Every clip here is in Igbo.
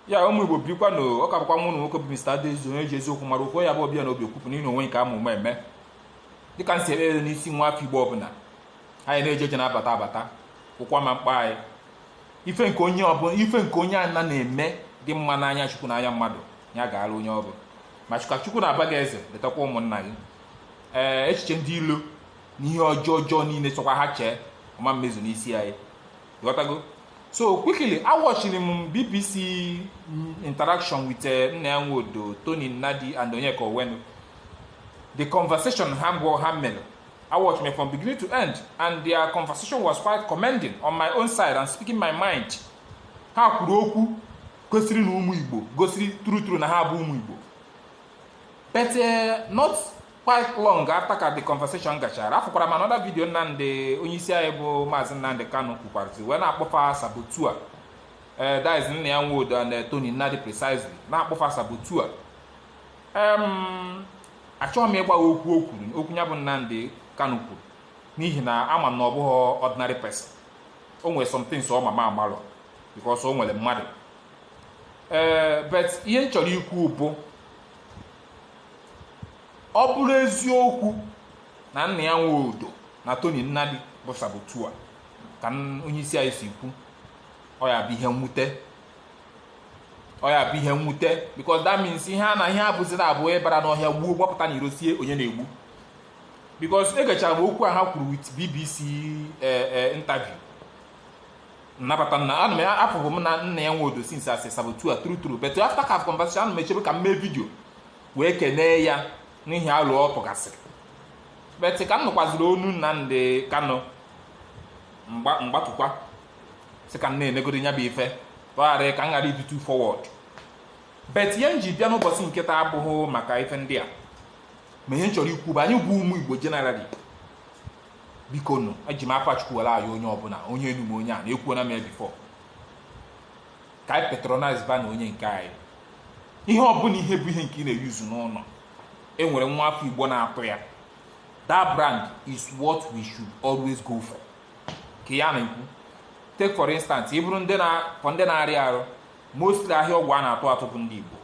ya ụmụ igbo bikwa na ọ ka bụkwa nwanne unu nwoke bụ Mr. Adaeze onye ji eziokwu mara okwu ya bụ ọbịa na obi okwupụ n'ihi onwe nke ama ụma eme dịka m si ekpere n'isi nwa afọ igbo ọbụla anyị na-eje eje na-abata abata ụkwụ ama akpọ anyị ife nke onye ọbụla ife nke onye ana na-eme dị mma n'anya chukwu n'anya mmadụ ya gaara onye ọbụla ma chukwu chukwu na-aba gị eze letakwa ụmụnna gị ee echiche ndị ilo na ihe ọjọọ ọjọọ niile sọkwa ha chee ọ ma emezu n'isi anyị ghọtago so quickly awatchiri m bbc interaction with eh, nnia nwodo tony nnadi and onyeka onwenu the conversation ha gwọ ha mere awatch m ya from beginning to end, and their conversation was quite commending on my own side and speaking my mind. Ha kwuru okwu gosiri na ụmụ Igbo gosiri true true na ha bụ ụmụ Igbo. But uh, not quite long after ka the conversation gachara afụkwara m another video Nnamdi onye isi anyị bụ maazị Nnamdi Kanu kwukwarazi wee na-akpọ fa saboteur ee that is nnia nwodo na Tony Nnadi precisely na-akpọ fa saboteur em achọghị m ịgbagha okwu o kwuru okwu ya bụ Nnamdi Kanu kwuru n'ihi na ama m na ọ bụghị ordinary person o nwere some things ọ ma m amarọ because o nwere mmadụ ee but ihe m chọrọ ikwu bụ ọ bụrụ eziokwu na Nnia Nwodo na Tony Nnadi bụ saboteur ka onye isi anyị si kwu ọ ya-abụ ihe mwute ọ ya-abụ ihe mwute because that means ihe a na ihe a bụzi na ọ bụ ị bara n'ọhịa gbuo gbapụta n'iro sị onye na-egbu because egechara m okwu a ha kwuru with BBC eh, eh, interview ah but na ana m afụbu nnia nwodo since as saboteur true true but after ka conversation ana m echebu ka m mee video wee kenee ya n'ihi alo ọ tụgasịrị but ka m nụkwaziri ọnụ nnamdi kanu m gba- m gbatụkwa sị ka m na-enegodi ya bụ ife ka ọ ghara ka m ghara ịdị too forward but ihe m ji bịa n'ụbọchị nke taa abụghị maka ife ndị a ma ihe m chọrọ ikwu bụ anyị bụ ụmụ igbo generally bikonụ eji m afa chukwu were ayọ onye ọbụla onye enu m onye a na-ekwuona m ya before ka anyị patronize banụ onye nke anyị ihe ọbụla ihe bụ ihe nke ị na-euse n'ụlọ e nwere nwa afọ igbo na-atụ ya that brand is what we should always go for ka ya na-ekwu take for instance ị bụrụ ndị na-akọ ndị na-arịa arụ mostly ahịa ọgwụ a na-atụ atụ bụ ndị igbo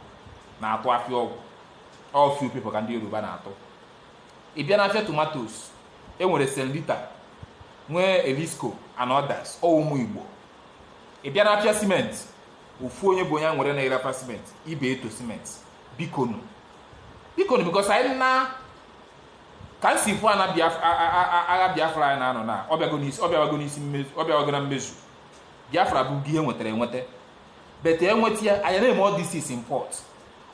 na-atụ afịa ọgwụ ọ few people ka ndị yoruba na-atụ ị bịa n'afịa tomatos e nwere selita nwee erisco and others ọ ụmụ igbo ị bịa n'afịa cement ofu onye bụ onye e nwere na-ere afịa cement ibeto cement bikonu bikonu because anyị na ka m si fụ ana Biaf- a- a- a- a- agha biafra anyị na-anụ na ọ bịago n'isi- ọ bịago n'isi mmezu ọ bịago na mmezu biafra bụ ihe e nwetara enweta but e nweta ya anyị na-eme all this is import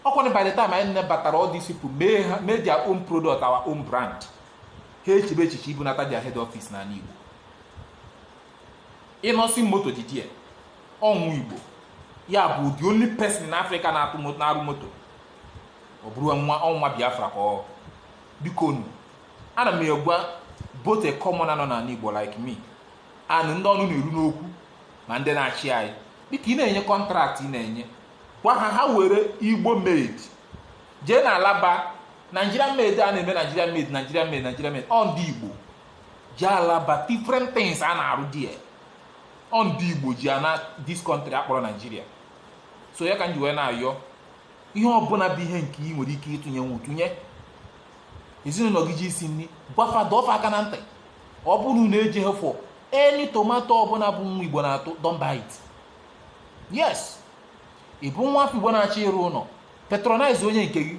ọkwanụ by the time anyị nebatara all these people mee ha mee their own product our own brand ha echebe echiche ibunata their head office n'ala igbo innoson moto didi ya ọ nwa igbo ya bụ the only person in africa na-atụ mo- na-arụ moto ọ bụrụ nwa ọ nwa biafra ka ọ biko nu ana m egwa both a common nọ n'ala igbo like me and ndị ọnụ na-eru n'okwu ma ndị na-achị anyị dịka ị na-enye kọntraktị ị na-enye gwa ha ha were igbo made jee na alaba nigeria made a na-eme nigeria made nigeria made nigeria made ọ ndị igbo ji alaba different things a na-arụ dị ya ọ ndị igbo ji ana this country a kpọrọ nigeria so ya ka m ji wee na-ayọ ihe ọbụla bụ ihe nke ị nwere ike ịtụnyenwu tụnye ezinụlọ gị ji isi nri gwafa dọfa aka na ntị ọ bụrụ na e jee ha fụ any tomato ọbụla bụ nwa igbo na-atụ don't buy it yes ị bụ nwa afọ igbo na-achọ ịrụ ụlọ patronize onye nke gị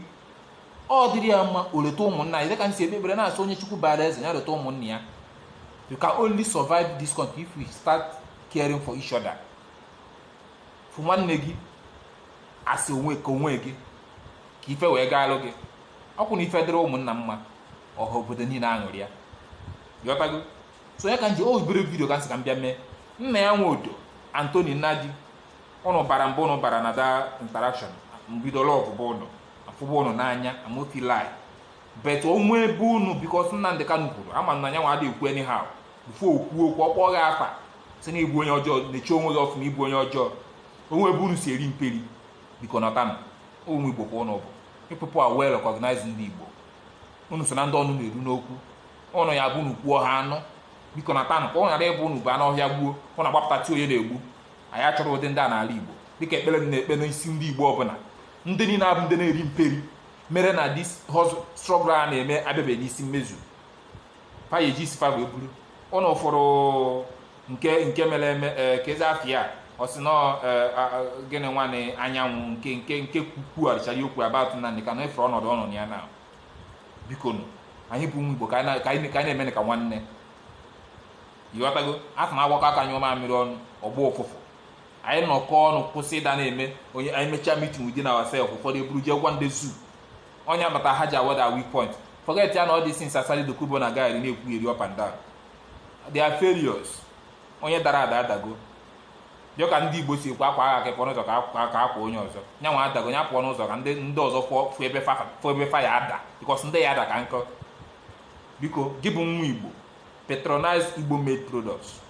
ọ dịrị ya mma o leta ụmụnna ya dịka m si ekpe ekpere na-asị onye chukwu bara eze ya leta ụmụnna ya you can only survive this country if we start caring for each other fụ nwanne gị as onwe ka onwe gị ka ife wee gaalụ gị ọkwụ na ife dịrị ụmụnna mma ọha obodo niile aṅụrịa ị ghọtago so ya ka m ji obere video ka m sị ka m bịa mee nnia nwodo and tony nnadi ụnụ bara mbụ ụnụ bara na that interaction m bido lọvụbu ụnụ afụbụ ụnụ n'anya i no fit lie but o nwe ebe ụnụ because nnamdi kanu kwuru ama m na nya nwa adịghị ekwu anyhow before o kwuo okwu ọ kpọọ gị afa sị na ị bụ onye ọjọọ na-eche onwe gị ọfụma ị bụ onye ọjọọ o nwe ebe unu si eri mperi biko nọtanụ ụmụ igbo ka ụnụ bụ you people are well recognized ndị igbo unu so na ndị ọnụ na-eru n'okwu ụnụ ya bụ unu kwuo ha anụ biko nọtanụ ka ọ ghara ịbụ unu baa n'ọhịa gbuo ụnụ agbapụta tie onye na-egbu anyị achọrọ ụdị ndị a n'ala Igbo dịka ekpere m na-ekpe n'isi ndị Igbo ọbụla ndị niile abụ ndị na-eri mperi mere na this struggle a na-eme abịabeghị n'isi mmezu fa ya eji isi fa wee buru ọnụ ụfọdụ nke nke mere eme e, kezi afa ya ọ sị na ọ e, gịnị nwanne anyanwụ nke nke nke kwukwugharịchara okwu about nnamdi kanu efere ọnọdụ ọnọdụ ya na biko nụ anyị bụ ụmụ igbo ka anyị na-eme nụ ka nwanne ịghọtago a sị na agbakọọ aka nyụọ mamịrị ọnụ ọ gbọọ ụfụfụ anyị nọkọ ọnụ kwụsị ịda na-eme onye anyị mechaa meeting within ourselves ụfọdụ eburu jee gwa ndị zoo onye amata ha ji awada weak point forget ya na ọ dị since asari dokubo na-agaarị na-ekwugheri up and down they are failures onye dara ada adago dị ka ndị igbo si ekwu akwa agha ka ịpụọ n'ụzọ ka akwa- ka akwa onye ọzọ ya nwa adago ya pụọ n'ụzọ ka ndị ndị ọzọ fụọ fụ ebe fa fụ ebe fa ya-ada because ndị ya ada ka nkọ biko gị bụ nwa igbo patronize igbo made products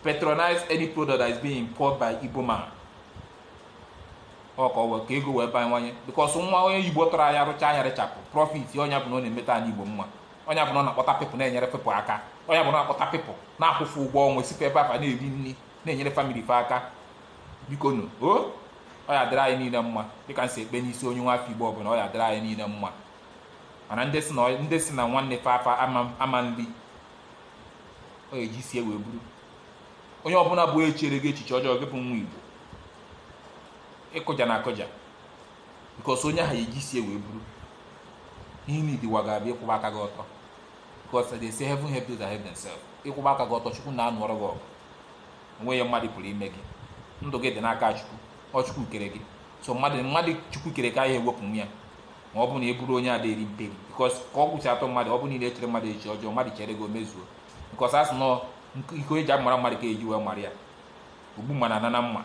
patronize any product that is being imported by igbo man ọ ka ọ wee ka ego wee bawanye because nwa onye igbo tọrọ anya rụcha anya rechapụ profit ọ nya bụ na ọ na-emeta anị igbo mma ọ nya bụ na ọ na-akpọta people na-enyere people aka ọ nya bụ na ọ na-akpọta people na-akwụ fa ụgwọ ọnwa esikwa ebe a fa na-eri nri na-enyere family fa aka biko nụ o ọ ya-adịrị anyị niile mma dịka m si ekpe n'isi onye nwa afọ igbo ọbụla ọ ya-adịrị anyị niile mma mana ndị si na ọ- ndị si na nwanne fa afa ama ama nri ọ eji isi ya wee buru onye ọbụla bụ echere gị echiche ọjọọ gị bụ nwa igbo ị kụjana akụja because onye ahụ eji isi ya wee buru ihe ndị ụwa ga-abịa ịkwụba aka gị ọtọ because they say heaven help those that help themselves ịkwụba aka gị ọtọ chukwu na-anụọrọ gị ọgụ o nweghị ihe mmadụ pụrụ ime gị ndụ gị dị n'aka chukwu ọ chukwu kere gị so mmadụ mmadụ chukwu kere ka anyị ewepụ nwa ya ma ọ bụ na ị bụrụ onye ada eri mperi because ka ọ gwụchi atọ mmadụ ọ bụ niile echere mmadụ echiche ọjọọ mmadụ chere gị o mezuo because a sị na ọ iko eji amara mmadụ ka eji wee mara ya ogbu mma na-ana na mma